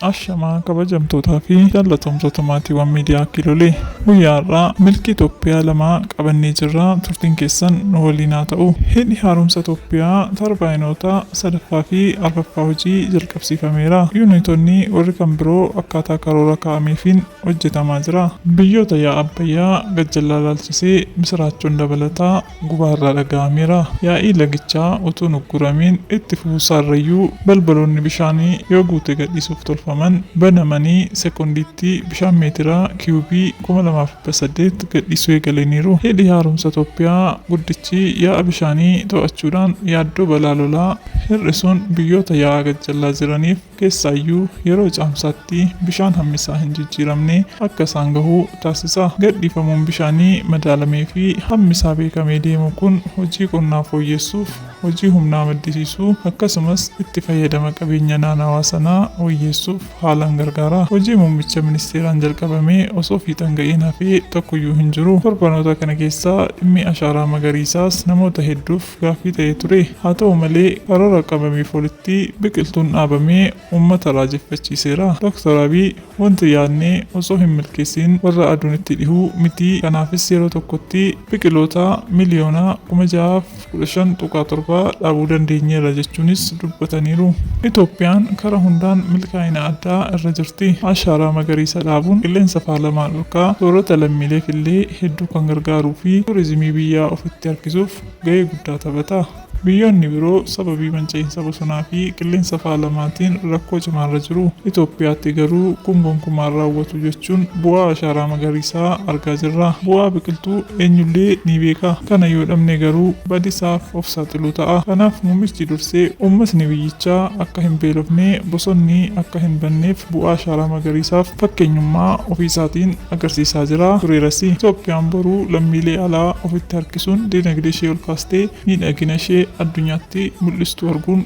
Ashamaa kabajamtootaa fi jaallatamtoota maatiiwwan miidiyaa Kiilolee guyyaa har'aa milkii Itoophiyaa lamaa qabannee jirra turtiin keessan nu waliin haa ta'u. Hidhi haaromsa Itoophiyaa tarbaayinoota sadaffaa fi arfaffaa hojii jalqaba. qabsiifameera. Yuuniitonni warri kan biroo akkaataa karoora kaa'ameefiin hojjetamaa jira. Biyyoota yaa'a Abbayyaa gajjallaa ilaalchisee misiraachoon dabalataa Gubaa irraa dhaga'ameera. Yaa'ii lagichaa utuu hin ugguramiin itti fufuusaa irrayyuu balbaloonni bishaanii yoo guute gadhiisuuf tolfaman banamanii sekondiitti bishaan meetira kiyuubii 2,000. 18 gadhiisuu eegalaniiru. Hidhi Haaromsa Toophiyaa guddichi yaa'a bishaanii to'achuudhaan yaaddoo balaa lolaa hir'isuun biyyoota yaa'a gajjallaa jiraniif keessaayyuu yeroo caamsaatti bishaan hammisaa hin jijjiiramne akka isaan gahu taasisa. Gadhiifamuun bishaanii madaalameefi hammisaa beekamee deemu kun hojii qonnaa fooyyessuuf, hojii humnaa maddisiisuu, akkasumas itti fayyadama qabeenya naanawaa sanaa wayyeessuuf haalan gargaara. Hojii muummicha ministeeraan jalqabamee osoo fiixan ga'een hafee tokkoyyuu hin jiru. Torbanoota kana keessa dhimmi ashaaraa magariisaas namoota hedduuf gaaffii ta'ee ture. Haa ta'u malee, karoora qabameef olitti biqiltuun dhaabamee uummata raajeffachiiseera. Doktar Abiy, Wanti yaadne osoo hin milkeessiin warra aduun itti dhihu miti. Kanaafis yeroo tokkotti biqiloota miliyoona kuma ja'aaf 15.7 dhaabuu dandeenyeerra jechuunis dubbataniiru. Itoophiyaan kara hundaan milkaa'ina addaa irra jirti. Ashaaraa magariisa dhaabuun qilleensa faalamaa dhorkaa soorata lammiileef illee hedduu kan gargaaruu fi tuurizimii biyyaa ofitti harkisuuf gahee guddaa taphata. Biyyoonni biroo sababii manca'iinsa bosonaa fi qilleensa faalamaatiin rakkoo cimaarra jiru. Itoophiyaatti garuu kun gonkumaa hin raawwatu. jechuun bu'aa ashaaraa magariisaa argaa jirra. Bu'aa biqiltuu eenyullee ni beeka. Kana yoo dhabne garuu badisaaf of saaxiluu ta'a. Kanaaf muummichi dursee uummatni biyyichaa akka hin beelofne, bosonni akka hin banneef bu'aa ashaaraa magariisaaf fakkeenyummaa ofiisaatiin agarsiisaa jira, tureerasi. Itoophiyaan boru lammiilee alaa ofitti harkisuun dinagdeeshee olkaastee miidhaginashee addunyaatti mul'istu arguun